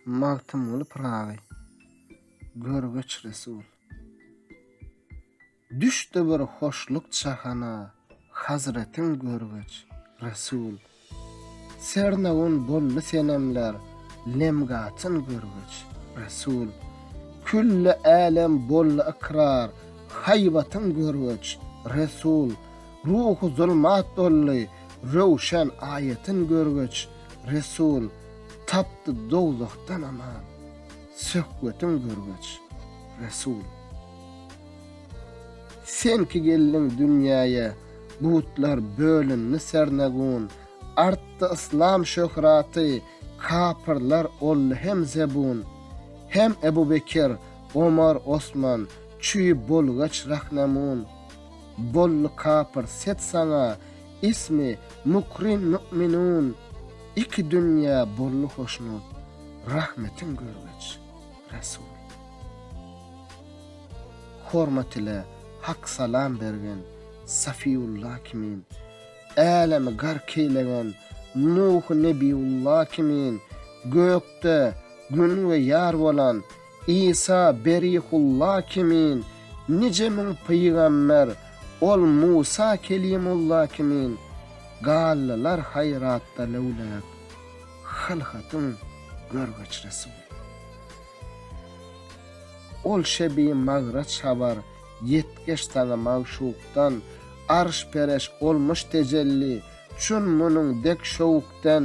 Magtymguly Pyragy görgeç Resul. Düşdi bir hoşluk jahana hazretiň görgeç Resul. Sernagun boldy senemler lemgatyn görgeç Resul. Külli älem boldy ykrar haýbatyň görgeç Resul. Ruhy zulmat boldy, röwşen aýatyn görgeç, resul, tapdy dowzahdan aman, söhbetiň görgeç, resul. Sen ki geldiň dünýäýe, butlar bölündi sernegun, artdy yslam şöhraty, kapyrlar oldy hem zebun. Hem Ebu Bekir, Omar, Osman, çüý bolgaç rahnemun. Bolly kapyr set saňa ismi mukrin mü'minun iki dünýe bolly hoşnut rahmetiň görgeç Resul hormat ile hak salam bergen Safiýulla kimin älemi gark eýlegen Nuh Nebiýulla kimin gökde gün we ýar bolan Isa Berihulla kimin nije müň pygamber, ol Musa Kelimulla kimin gallylar haýratda löwläp, hylhatyň görgeç resuly. Ol şebi magraç habar, ýetgeş saňa magşukdan, arş-pereş olmuş tejelli, şun-munuň dek şowukden,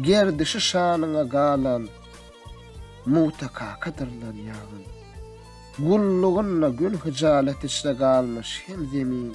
Gerdişi şanyňa galan Muta kakadyr lan ýaňyn. Gullugynda gün hyjalet içre galmyş hem zemin,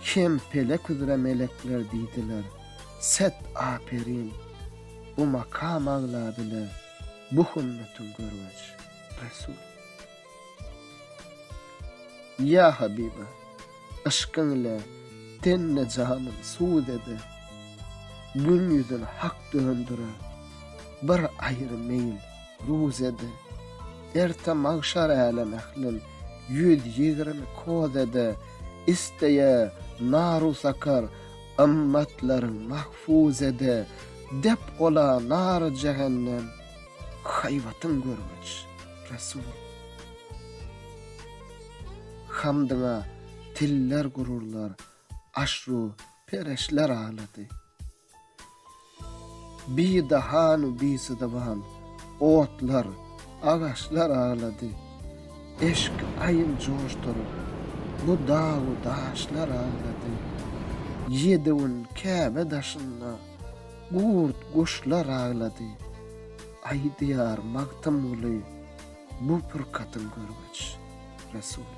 hem pelek üzre melekler diýdiler, set aperin, bu makam aglabile bu hümmetiň görweç, resul. Ýa habiba, yşkyň ile tenne-janym sud ede, Gün ýüzün hak döndüre, bir aýry meýil ruz ede, Erte magşar älem ählin ýüz ýigrimi koz ede, Isteýä nar-u sakar ymmatlaryň mahfuz ede, Dep ola nary jehennem haýbatyň görgüç. Resul. Hamdyňa tiller gururlar, aşru pereşler aglady. Bidahanu bisidaban otlar, agaçlar aglady. Eşki aýyl joşduryp, bu dagu daşlar aglady. Ýedi gün Käbe daşynda. Gurt guşlar aglady. Aýdýar Magtymguly bu purkatyň görgeç resuly.